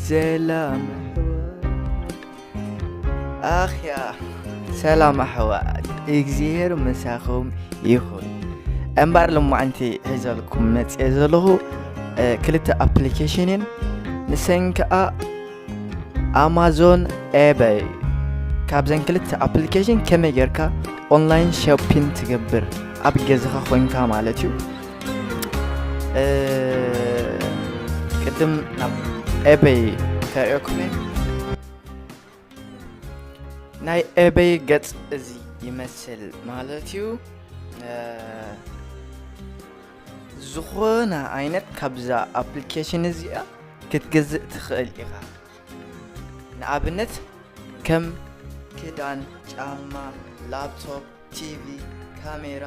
ሰላም ኣኽያ ሰላም ኣሕዋት እግዚኣብሔር ምሳኹም ይኹን እምበር ልማዓንቲ ሒዘልኩም መፅየ ዘለኹ ክልተ ኣፕሊኬሽን እየን ንሰን ከዓ ኣማዞን ኤበይ ካብዘን ክልተ ኣፕሊኬሽን ከመይ ጌርካ ኦንላይን ሾፒን ትገብር ኣብ ገዛኻ ኮንካ ማለት እዩ ቅድም ናብ ኤበይ ከርእዮኩም እየ ናይ ኤበይ ገጽ እዚ ይመስል ማለት እዩ ዝኾነ ዓይነት ካብዛ ኣፕሊኬሽን እዚኣ ክትገዝእ ትኽእል ኢኻ ንኣብነት ከም ክዳን ጫማ ላፕቶፕ ቲቪ ካሜራ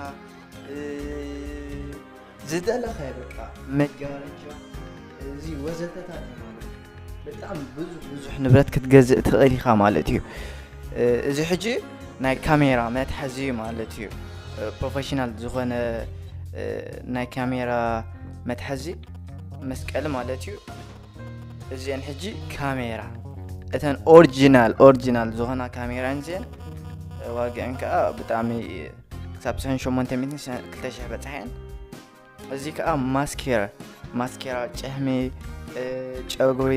ዝደለኻዮ በቃ መጋረጃ እዚ ወዘተታት ማለት እዩ። ብጣዕሚ ብዙሕ ብዙሕ ንብረት ክትገዝእ ትኽእል ኢኻ ማለት እዩ እ፣ እዚ ሕጂ ናይ ካሜራ መትሓዚ እዩ ማለት እዩ እ፣ ፕሮፌሽናል ዝኾነ እ፣ ናይ ካሜራ መትሓዚ መስቀሊ ማለት እዩ እዚኤን ሕጂ ካሜራ እተን ኦሪጂናል ኦሪጂናል ዝኾና ካሜራ እዚኤን ዋግዐን ከዓ ብጣዕሚ ክሳብ ሰን 8200 በፅሐን እዚ ከዓ ማስኬራ ማስኬራ ጨህሚ ጨጉሪ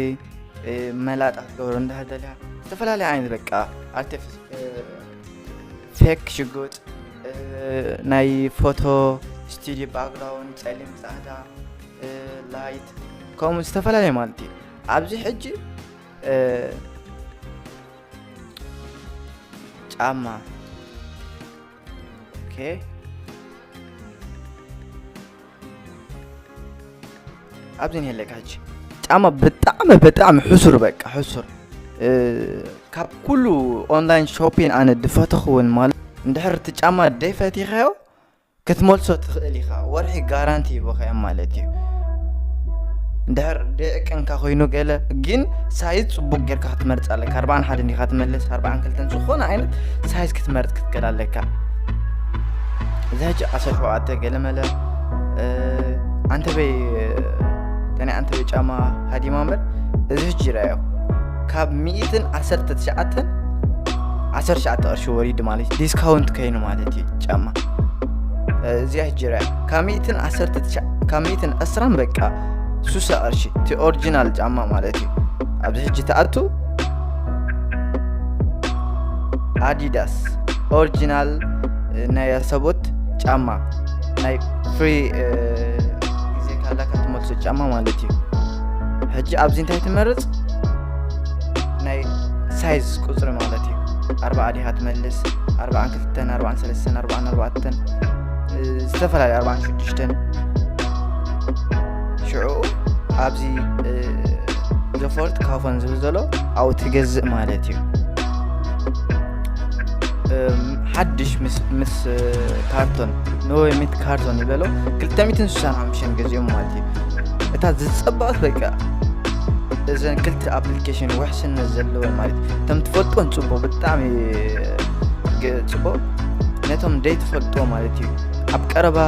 መላጣ ክትገብሮ እንዳሃደልያ ዝተፈላለዩ ዓይነት በቃ ኣርቲፊ ፌክ ሽጉጥ ናይ ፎቶ ስቱድዮ ባክግራውንድ ፀሊም ፃዕዳ ላይት ከምኡ ዝተፈላለየ ማለት እዩ ኣብዚ ሕጂ ጫማ ኦኬ ኣብዚ ንሄለካ ሕጂ ጫማ ብጣዕሚ ብጣዕሚ ሕሱር በቃ ሕሱር ካብ ኩሉ ኦንላይን ሾፒን ኣነ ድፈተኽውን ማለት እንድሕር እቲ ጫማ ደይፈቲኸዮ ክትመልሶ ትኽእል ኢኻ ወርሒ ጋራንቲ ሂበኻዮም ማለት እዩ እንድሕር ደይዕቀንካ ኮይኑ ገለ ግን ሳይዝ ጽቡቅ ጌርካ ክትመርጽ ኣለካ ኣርባዓን ሓደ እንዲኻ ትመልስ ኣርባዓን ክልተን ዝኾነ ዓይነት ሳይዝ ክትመርጽ ክትገል ኣለካ እዚ ሕጂ ዓሰርተ ሸውዓተ ገለመለ ኣንተበይ ተናይ ኣንተበይ ጫማ ሃዲማ እምበር እዚ ሕጂ ይረኣዮ ካብ ሚእትን ዓሰርተ ትሽዓተን ዓሰርተ ትሽዓተ ቅርሺ ወሪዱ ማለት ዲስካውንት ከይኑ ማለት እዩ ጫማ እዚኣ ጅራ ካብ ሚእትን ዓሰርተ ትሽዓ ካብ ሚእትን ዕስራን በቃ ሱሳ ቅርሺ እቲ ኦሪጂናል ጫማ ማለት እዩ ኣብዚ ሕጂ ተኣቱ ኣዲዳስ ኦሪጂናል ናይ ኣሰቦት ጫማ ናይ ፍሪ ግዜ ካላካ ትመልሶ ጫማ ማለት እዩ ሕጂ ኣብዚ እንታይ ትመርፅ ናይ ሳይዝ ቁፅሪ ማለት እዩ ኣርባዓ ዲኻ ትመልስ ኣርባዓን ኣርባዕተን ኣርባዕን ሰለስተን ኣርባዕን ኣርባዕተን ዝተፈላለዩ ኣርባዕን ሽዱሽተን ሽዑ ኣብዚ ዲፎልት ካፎን ዝብል ዘሎ ኣብኡ ትገዝእ ማለት እዩ ሓድሽ ምስ ካርቶን ንወይ ሚት ካርቶን ይበሎ 265 ገዚኦም ማለት እዩ እታ ዝፀበቐት በቃ እዘን ክልተ ኣፕሊኬሽን ውሕስነት ዘለወን ማለት እዩ ከም ትፈልጦን ፅቡቅ ብጣዕሚ ፅቡቅ ነቶም ዘይትፈልጦ ማለት እዩ ኣብ ቀረባ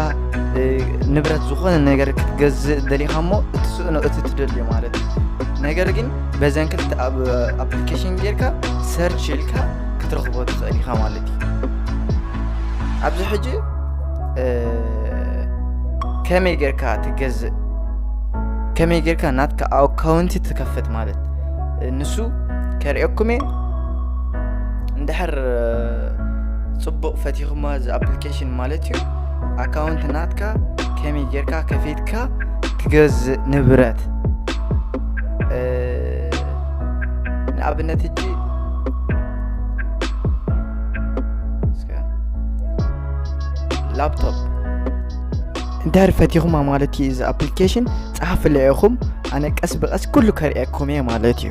ንብረት ዝኾነ ነገር ክትገዝእ ደሊኻ እሞ እቲ ስእኖ እቲ ትደልዮ ማለት እዩ ነገር ግን በዘን ክልተ ኣብ ኣፕሊኬሽን ጌርካ ሰርች ኢልካ ክትረኽቦ ትኽእል ኢኻ ማለት እዩ ኣብዚ ሕጂ ከመይ ጌርካ ትገዝእ ከመይ ጌርካ ናትካ ኣካውንቲ ትከፍት ማለት ንሱ ከርእየኩም እየ እንድሕር ፅቡቕ ፈቲኹማ እዚ ኣፕሊኬሽን ማለት እዩ ኣካውንት ናትካ ከመይ ጌርካ ከፊትካ ትገዝእ ንብረት ንኣብነት እጂ ላፕቶፕ እንድሕር ፈቲኹማ ማለት እዩ እዚ ኣፕሊኬሽን ፀሓፍለ ኢኹም ኣነ ቀስ ብቐስ ኩሉ ከርእየኩም እየ ማለት እዩ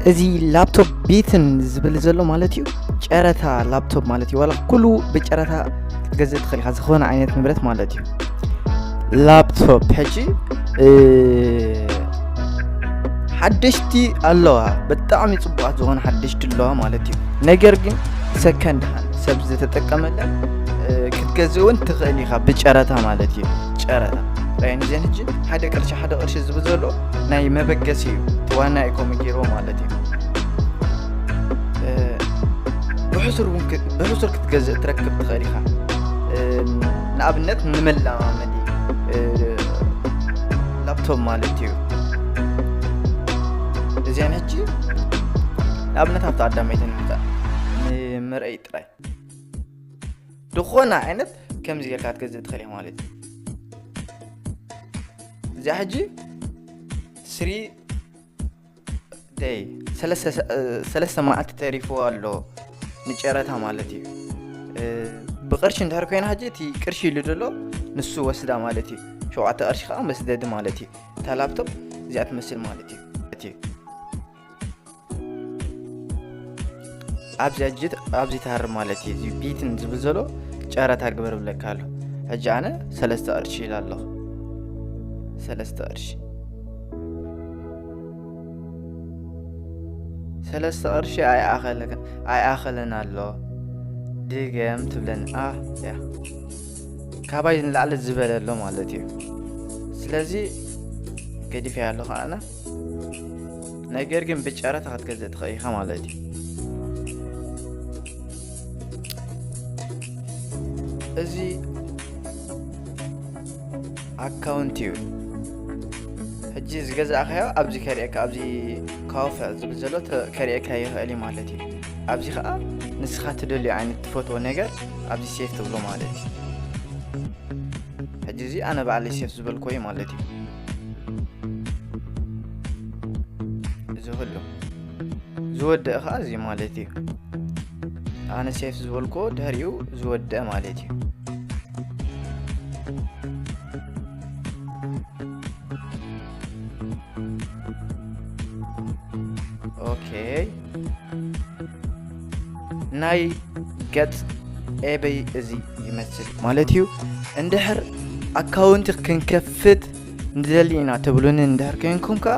እዚ ላፕቶፕ ቤትን ዝብል ዘሎ ማለት እዩ ጨረታ ላፕቶፕ ማለት እዩ ዋላ ኩሉ ብጨረታ ክትገዝእ ትኽእል ኢኻ ዝኾነ ዓይነት ንብረት ማለት እዩ ላፕቶፕ ሕጂ ሓደሽቲ ኣለዋ ብጣዕሚ ፅቡቃት ዝኾነ ሓደሽቲ ኣለዋ ማለት እዩ ነገር ግን ሰከንድ ሃን ሰብ ዝተጠቀመለ ክትገዝእ እውን ትኽእል ኢኻ ብጨረታ ማለት እዩ ጨረታ ራይንዜን ሕጂ ሓደ ቅርሺ ሓደ ቅርሺ ዝብል ዘሎ ናይ መበገሲ እዩ ዋና ኢኮሚ ገይርዎ ማለት እዩ ብሕሱር እውን ብሕሱር ክትገዝእ ትረክብ ትኽእል ኢኻ ንኣብነት ንመለማመዲ ላፕቶፕ ማለት እዩ እዚኣን ሕጂ ንኣብነት ኣብቲ ኣዳመይተን ምጣ ንመርአይ ጥራይ ዝኾነ ዓይነት ከምዚ ጌርካ ክትገዝእ ትኽእል ኢኻ ማለት እዩ እዚኣ ሕጂ ስሪ ደይ ሰለስተ መዓልቲ ተሪፉ ኣሎ ንጨረታ ማለት እዩ ብቅርሺ እንድሕር ኮይና ሕጂ እቲ ቅርሺ ኢሉ ዘሎ ንሱ ወስዳ ማለት እዩ ሸውዓተ ቅርሺ ከዓ መስደዲ ማለት እዩ እታ ላፕቶፕ እዚኣ ትመስል ማለት እዩ ኣብዚ ሕጂ ኣብዚ ተሃር ማለት እዩ እዚ ቢትን ዝብል ዘሎ ጨረታ ግበር ብለካ ኣሎ ሕጂ ኣነ ሰለስተ ቅርሺ ኢላ ኣለኹ ሰለስተ ቅርሺ ሰለስተ ቅርሺ ኣይኣኸለን ኣሎ ድገም ትብለኒ ያ ካባይ ንላዕሊ ዝበለ ኣሎ ማለት እዩ ስለዚ ገዲፈያ ኣለኹ ኣነ ነገር ግን ብጨረታ ክትገዝእ ትኽእል ኢኻ ማለት እዩ እዚ ኣካውንት እዩ ሕጂ ዝገዛእካዮ ኣብዚ ከርእየካ ኣብዚ ካወፈ ዝብል ዘሎ ከርእየካ ይኽእል እዩ ማለት እዩ ኣብዚ ከዓ ንስኻ ትደልዩ ዓይነት ትፈትዎ ነገር ኣብዚ ሴፍ ትብሎ ማለት እዩ ሕጂ እዚ ኣነ ባዕለይ ሴፍ ዝበልኮ እዩ ማለት እዩ ዝህሉ ዝወድእ ከዓ እዚ ማለት እዩ ኣነ ሴፍ ዝበልኮ ድሕሪኡ ዝወድእ ማለት እዩ ኦኬ ናይ ገጽ ኤበይ እዚ ይመስል ማለት እዩ እንድሕር ኣካውንቲ ክንከፍት ንደሊ ኢና ትብሉኒ እንድሕር ኮይንኩም ከዓ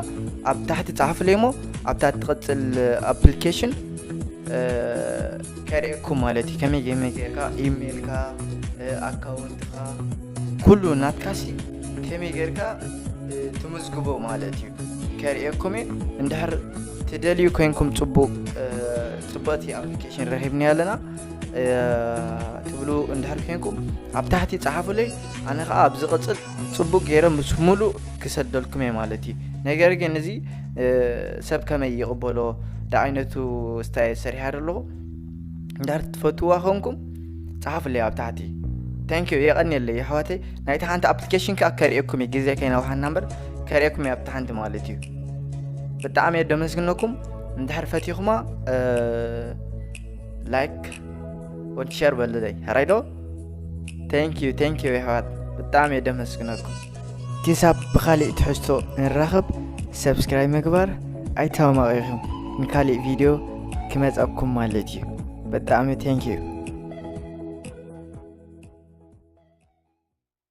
ኣብ ታሕቲ ፃሓፍለይ እሞ ኣብታ ትቕፅል ኣፕሊኬሽን ከርእየኩም ማለት እዩ ከመይ ከመይ ጌርካ ኢሜይልካ ኣካውንትካ ኩሉ ናትካሲ ከመይ ጌርካ ትምዝግቦ ማለት እዩ ከርእየኩም እዩ እንድሕር ትደልዩ ኮይንኩም ፅቡቅ ፅብቅቲ ኣፕሊኬሽን ረኪብናያ ኣለና ትብሉ እንድሕር ኮይንኩም ኣብ ታሕቲ ፀሓፉለይ ኣነ ከዓ ኣብ ዝቕፅል ፅቡቅ ገይረ ምስ ሙሉእ ክሰደልኩም እየ ማለት እዩ ነገር ግን እዚ ሰብ ከመይ ይቕበሎ ዳዓይነቱ ስታይ ሰሪሐ ኣለኹ እንድሕር ትፈትዋ ኮንኩም ፀሓፍለይ ኣብ ታሕቲ ታንኪዩ የቐኒየለይ ኣሕዋተይ ናይቲ ሓንቲ ኣፕሊኬሽን ከዓ ከርእየኩም እዩ ግዜ ከይነውሓና እምበር ከርእየኩም እዩ ኣብቲ ሓንቲ ማለት እዩ ብጣዕሚ እየ ደመስግነኩም እንድሕር ፈቲኹማ ላይክ ወዲ ሸር በልለይ ሕራይዶ ታንኪዩ ታንኪዩ የሕዋት ብጣዕሚ እየ ደመስግነኩም ክሳብ ብኻሊእ ትሕዝቶ ንራኸብ ሰብስክራይብ ምግባር ኣይተማቐኹም ንካሊእ ቪድዮ ክመፀኩም ማለት እዩ በጣዕሚ ቴንኪዩ